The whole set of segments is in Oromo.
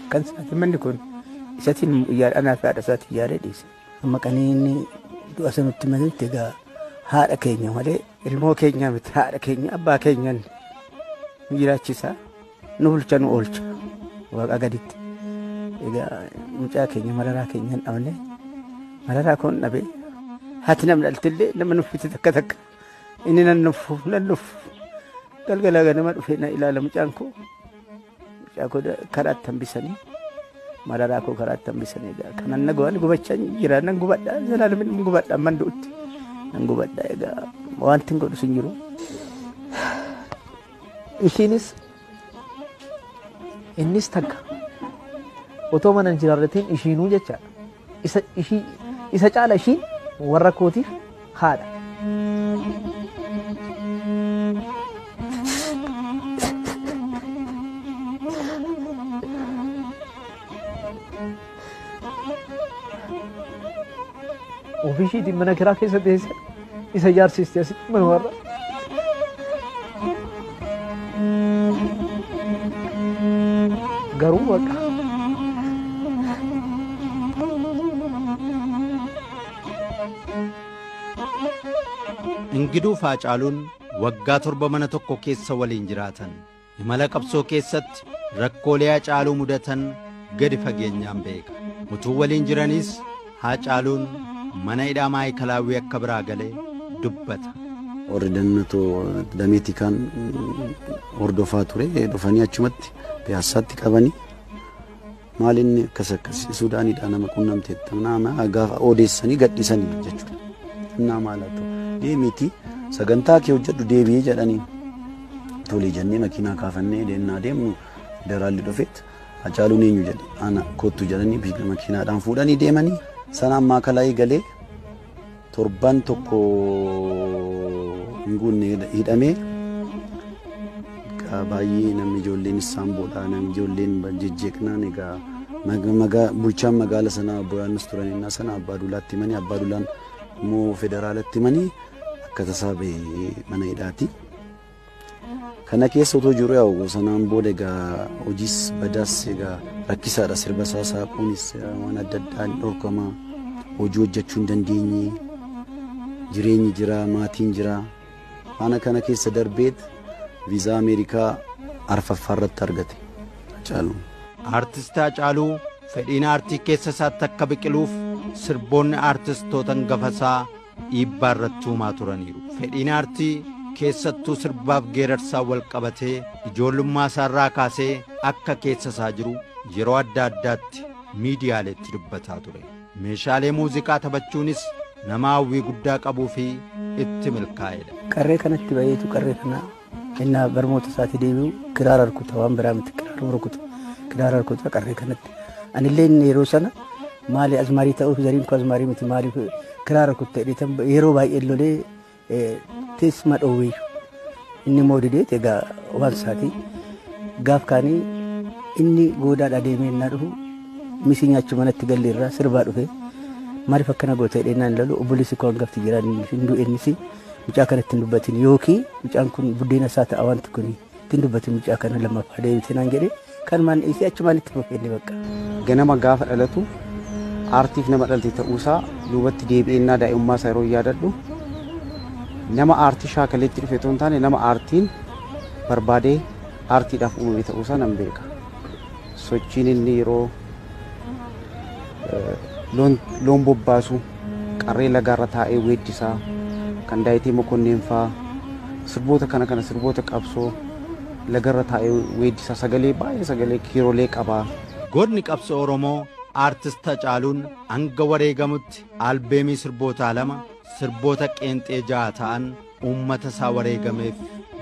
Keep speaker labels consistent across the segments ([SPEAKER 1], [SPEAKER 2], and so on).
[SPEAKER 1] Kan isaati manni kun isatiin yaada anaaf haadha isaati yaada dhiise. Amma qaniinni du'a sanutti malutti egaa haadha keenya malee ilmoo keenya miti haadha keenya abbaa keenyan nu jiraachisa nu bulcha nu oolcha waaqa gaditti. Egaa mucaa keenya mararaa keenyan dhabne mararaa koon dhabe haati nam dhaltillee nama nuffite takka takka inni nan nuffu nan nuffu galgalaa ganama dhufee na ilaala mucaan koo. Mucaa koo karaatti hambisanii mararaa koo karaatti hambisanii egaa kanan na go'an gubachaa jira nan gubadha zalaalamiin nan gubadha amman du'utti nan gubadha egaa wanti hin godhu sin jiru.
[SPEAKER 2] Ishiinis innis takka otoo mana hin jiraarratiin ishiinuu jechaadha. Isa, ishii, isa caala ishiin warra kootiif haadha. Ofii ishiitiin mana kiraa keessa teessee isa ijaarsiiste asitti mana warra. Garuu baqa.
[SPEAKER 3] Ingiduu Faacaaluun waggaa torba mana tokko keessa waliin jiraatan. Imala qabsoo keessatti rakkoolee Hacaaluu mudatan gadi fageenyaan beeka. Utuu waliin jiraniis Hacaaluun mana hidhaa Maayikalaawwii akka biraa gale dubbata. Warri
[SPEAKER 4] dannatoo damee tikaan hordofaa ture dhufanii achumatti piyaassaatti qabanii Maal inni akkas akkas Suudaanidha nama qunnamte nama gaafa odeessanii gadhiisanii jechuudha. Innaa maal haa ta'u deemiitii sagantaa kee hojjedhu deebi'ee jedhanii tolee jennee makiinaa kaafannee deemnaa deemnu daraalli dhufeet Hacaaluun eenyu jedhe ana kottu jedhanii makiinaadhaan fuudhanii deemanii sanaan maakalaayii galee torban tokko hin guunne hidhame. Egaa baay'ee namni ijoolleen isaan boodhaa namni ijoolleen jejjeeqnaan egaa maga- maga- bulchaan magaala sanaa obbo Yohaannis turan innaa sana abbaa duulaatti himanii abbaa duulaan immoo federaalatti himanii akka tasaa ba'e mana hidhaati. Kana keessa utuu jiru yaa'u sanaan booda egaa hojiis badaas egaa rakkisaadha sirba isaa saaquunis waan adda addaan dhorkama hojii hojjechuu hin dandeenye jireenyi jira maatiin jira haala kana keessa darbeet viizaa Ameerikaa arfaffaa irratti argate Hacaaluun. Aartist
[SPEAKER 3] Hacaaluu fedhiin aartii keessa isaatti akka biqiluuf sirboonni aartistoota hangafa isaa dhiibbaa irratti uumaa turaniiru. Fedhiin aartii keessattuu sirbaaf geerarsaan wal qabatee ijoollummaa isaarraa kaasee akka keessa isaa jiru yeroo adda addaatti miidiyaaleetti dubbataa ture. Meeshaalee muuziqaa taphachuunis nama hawwii guddaa qabuu fi itti milkaa'edha. Qarree kanatti
[SPEAKER 1] bayeetu qarree kana Innaa barmoota isaatti deebi'u kiraara rukuta waan biraa miti kiraara rukuta kiraara rukuta qarree kanatti. Anillee inni yeroo sana maali azmaarii ta'uuf zariin koo azmaarii miti maali kiraara rukuta jedheetan yeroo baay'ee lolee teessuma dhoowweeyyu. Inni immoo didee egaa waan isaati gaaf kaanii inni goodaadhaa deemee innaa dhufu misii nyaachuu manatti galli irraa sirbaa dhufe maaliif akkana goota jedhee innaan ilalu obboleessi koo hangafti jiraan hin du'e innis mucaa kana ittiin dubbatin yookiin mucaan kun buddeena isaa ta'a wanti kun ittiin dubbatin mucaa kana lammaffaa deebite naan jedhe kanumaan dhiisee achumaan itti fufeenne bakka. Ganama gaafa
[SPEAKER 5] dhalatu aartiif nama dhalte ta'uusaa duubatti deebi'eennaa daa'imummaa isaa yeroo yaadadhu nama aartii shaakaleetti dhufe otoo hin taane nama aartiin barbaadee aartiidhaaf uumame ta'uusaa nan beeka. Sochiin inni yeroo loon bobbaasu qarree lagaarra taa'ee weeddisaa kan daayitee mokonniin faa sirboota kana kana sirboota qabsoo lagarra taa'ee weeddisaa sagalee baay'ee sagalee kiirolee qabaa. Gootni qabsoo
[SPEAKER 3] Oromoo Aartist Hacaaluun hanga wareegamutti albeemii sirbootaa lama, sirboota qeenxee ja'a ta'an uummata isaa wareegameef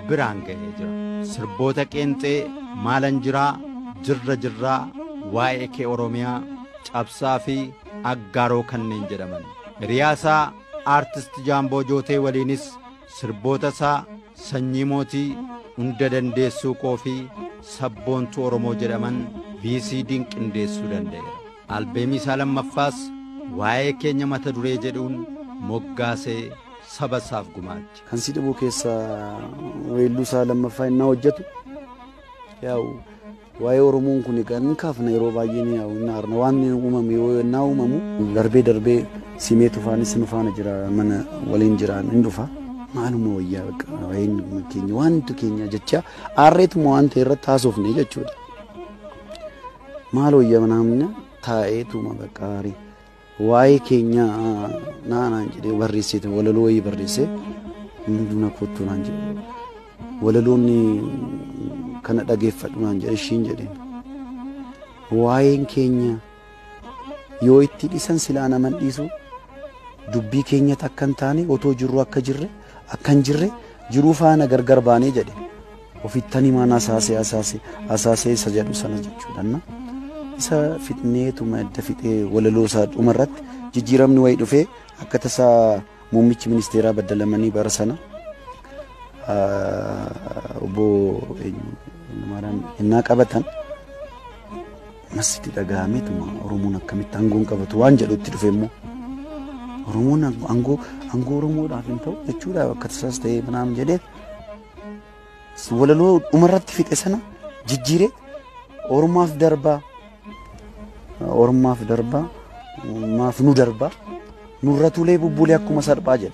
[SPEAKER 3] biraan ga'ee jira. Sirboota qeenxee maalan jiraa, jirra jirraa, waa'ee kee Oromiyaa, cabsaa fi aggaaroo kanneen jedhaman. Hiriyaa isaa aartist Jaamboo Jootee waliinis sirboota isaa sanyii mootii, hunda dandeessuu koo fi sabboontuu Oromoo jedhaman VCD'n qindeessuu danda'eera. Albeemii isaa lammaffaas waa'ee keenya mata duree jedhuun moggaasee saba isaaf gumaache. Kan si dhibu keessa
[SPEAKER 4] weelluu isaa lammaffaa innaa hojjetu yaa'u waa'ee Oromoon kun egaa hin kaafna yeroo baay'ee ni yaa'u hin aarna waan uumame yoo innaa uumamu darbee darbee simee tufaanis nu faana jira mana waliin jiraan hin dhufa. Maaluma wayyaa bakka waa'een keenya waantu keenya jecha aarreetuma waan ta'e irratti haasofne jechuudha. Maal wayyaa namni taa'eetuma bakka aarii. Waa'ee keenya naa naan jedhee barreessee ture walaloo wayii barreessee inni duna kottuu naan jedhe walaloonni kana dhageeffadhu naan jedhe ishiin jedheen waa'een keenya yoo itti dhisan silaa naman dhiisu dubbii keenyatti akka hin taane otoo jirru akka jirre akka hin jirre jiruu faana gargar baanee jedhe Ofittan himaan asaasee asaasee asaasee isa jedhu sana jechuudhanna. Isa fixneetuma edda fixee walaloo isaa dhuma irratti jijjiiramni wayii dhufee akka tasaa muummichi ministeeraa baddalamanii bara sana obbo Maaraan innaa qabatan masiti dhaga'ameetuma Oromoon akkamitti aangoon qabatu waan jedhutti dhufe immoo Oromoon aangoo aangoo Oromoodhaaf hin ta'u jechuudha akka tasaas ta'ee manaam jedhee walaloo dhumarratti fixe sana jijjiiree ormaaf darbaa ormaaf darbaa maaf nu darbaa nurratulee bubbulee akkuma salphaa jedhe.